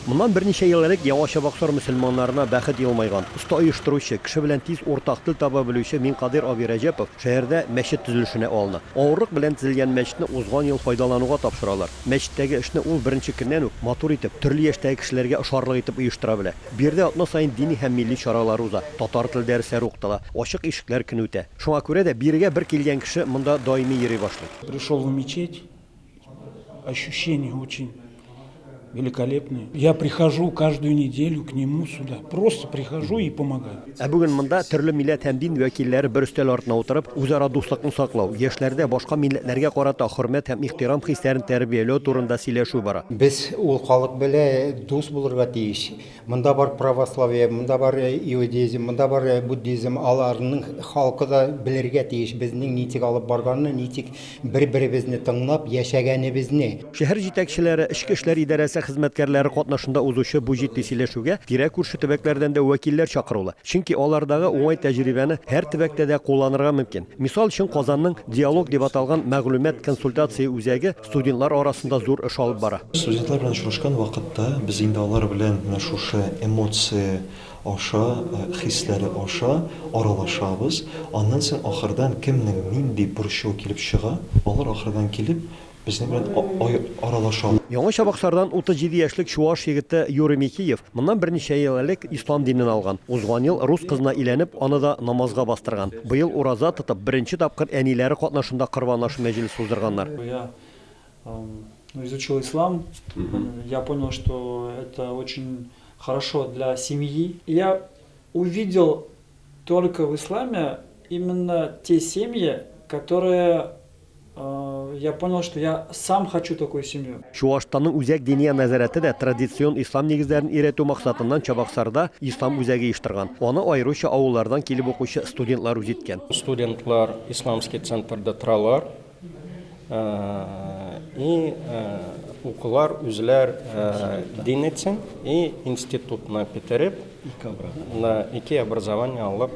Моннан берничә ел элек Яңа Чабаксар мөселманнарына бәхет елмайган, оста оештыручы, кеше белән тиз уртак тел таба белүче Минкадыйр абый Рәҗәпов шәһәрдә мәчет төзелешенә алына. Авырлык белән төзелгән мәчетне узган ел файдалануга тапшыралар. Мәчеттәге эшне ул беренче көннән үк матур итеп, төрле яшьтәге кешеләргә ошарлык итеп оештыра белә. Биредә атна саен дини һәм милли чаралар уза, татар теле дәресләре укытыла, Ачык ишекләр көне үтә. Шуңа күрә дә бирегә бер килгән кеше монда даими йөри башлый. Пришел в мечеть. Ощущение очень великолепные. Я прихожу каждую неделю к нему сюда. Просто прихожу и помогаю. Ә бүген монда төрле милләт һәм дин вәкилләре бер өстәл артына утырып, үзара дуслыкны саклау, яшьләрдә башка милләтләргә карата хөрмәт һәм ихтирам хисләрен тәрбияләү турында сөйләшү бара. Без ул халык белән дус булырга тиеш. Монда бар православие, монда бар иудеизм, монда бар буддизм, аларның халкы да белергә тиеш безнең ничек алып барганны, ничек бер-беребезне тыңлап яшәгәнебезне. Шәһәр җитәкчеләре, эчке эшләр идарәсе хезмәткәрләре катнашында узучы бу җитди сөйләшүгә тирә-күрше төбәкләрдән дә вәкилләр чакырулы, чөнки алардагы уңай тәҗрибәне һәр төбәктә дә кулланырга мөмкин. Мисал өчен, Казанның Диалог дип аталган мәгълүмат-консультация үзәге, Студентлар арасында зур эш алып бара. Студентлар белән очрашкан вакытта без инде алар белән менә шушы эмоция аша, хисләре аша аралашабыз. Аннан соң ахырдан кемнең нинди борчуы килеп чыга, алар ахырдан килеп безнең белән аралашалар. Яңа Чабаксардан 37 яшьлек чуаш егете Юрий Михиев Моннан берничә ел элек ислам динен алган. Узган ел рус кызына өйләнеп, аны да намазга бастырган. Быел ураза тотып, беренче тапкыр әниләре катнашында корбан ашу мәҗлесе уздырганнар. Я изучил ислам, я понял, что это очень хорошо для семьи. Я увидел только в исламе именно те семьи, которые Я понял, что я сам хочу такую семью. Чуашстанның Үзәк Диния нәзарәте дә традицион ислам нигезләрен өйрәтү максатыннан Чабаксарда ислам үзәге оештырган. Аны аеруча авыллардан килеп укучы студентлар үз иткән. Студентлар исламский центрда торалар и укулар үзләр дин итсен и институтны бетереп, ике образование алып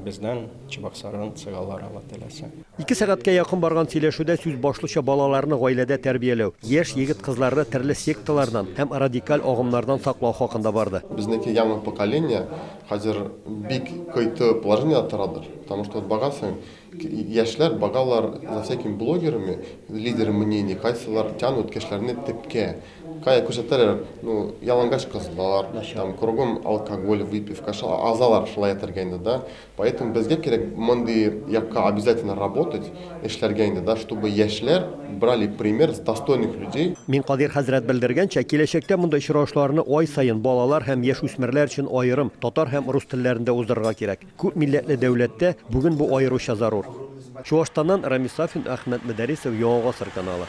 бездән. Чебоксардан чыгалар Алла теләсә. Ике сәгатькә якын барган сөйләшүдә сүз башлыча балаларны гаиләдә тәрбияләү, яшь егет-кызларны төрле секталардан һәм радикаль агымнардан саклау хакында барды. Безнеке яңа поколение хәзер бик кыйты положениедә торадыр, потому что вот багасың, яшьләр багалар за всякими блогерами, лидеры мнений, кайсылар тянут кешеләрне тепкә, кая күрсәтәләр, ну, ялангач кызлар, там кругом алкоголь, выпивка, шул азалар шулай әйтергә инде, да, Поэтому безгә кирәк мондый якка обязательно работать, эшләргә инде, да, чтобы яшьләр брали пример с достойных людей. Минкадир хәзрәт белдергәнчә, киләчәктә мондый очрашуларны ай саен, балалар һәм яшүсмерләр өчен аерым, татар һәм рус телләрендә уздырырга кирәк. Күп милләтле дәүләттә бүген бу аеруча зарур. Чуашстаннан Рамис Сафин, Әхмәт Мөдәрисов, Яңа гасыр каналы.